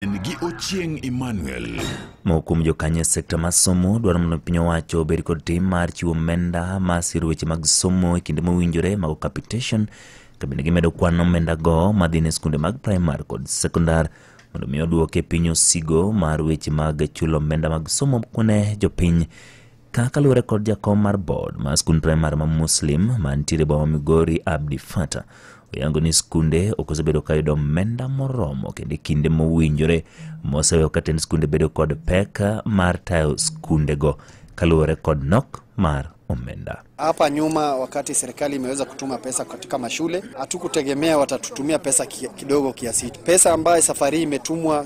en gi Ochieng' Emmanuel. Moko kuom jokanyo e sekta mar somo dwaro mondo piny owacho obed kod tim mar chiwo omenda ma siro weche mag somo e kinde mowinjore mago capitation kabende gimedo kwan omendago madhi ne skunde mag primar kod sekondar mondo mi oduoke piny osigo mar weche mag chulo omenda mag somo ne jopiny Ka kaluwore kod jakom mar board mar skund primar ma Muslim mantiere e boma Migori Abdi Fata oyango ni skunde ok osebedo ka yudo omenda moromo kendo e kinde mowinjore moseweyo ka tend skunde bedo kod pek mar tayo skundego kaluwore kod nok mar omenda. Hapa nyuma wakati serikali imeweza kutuma pesa katika mashule, hatukutegemea watatutumia pesa ki- kidogo kiasi hicho. Pesa ambayo safari hii imetumwa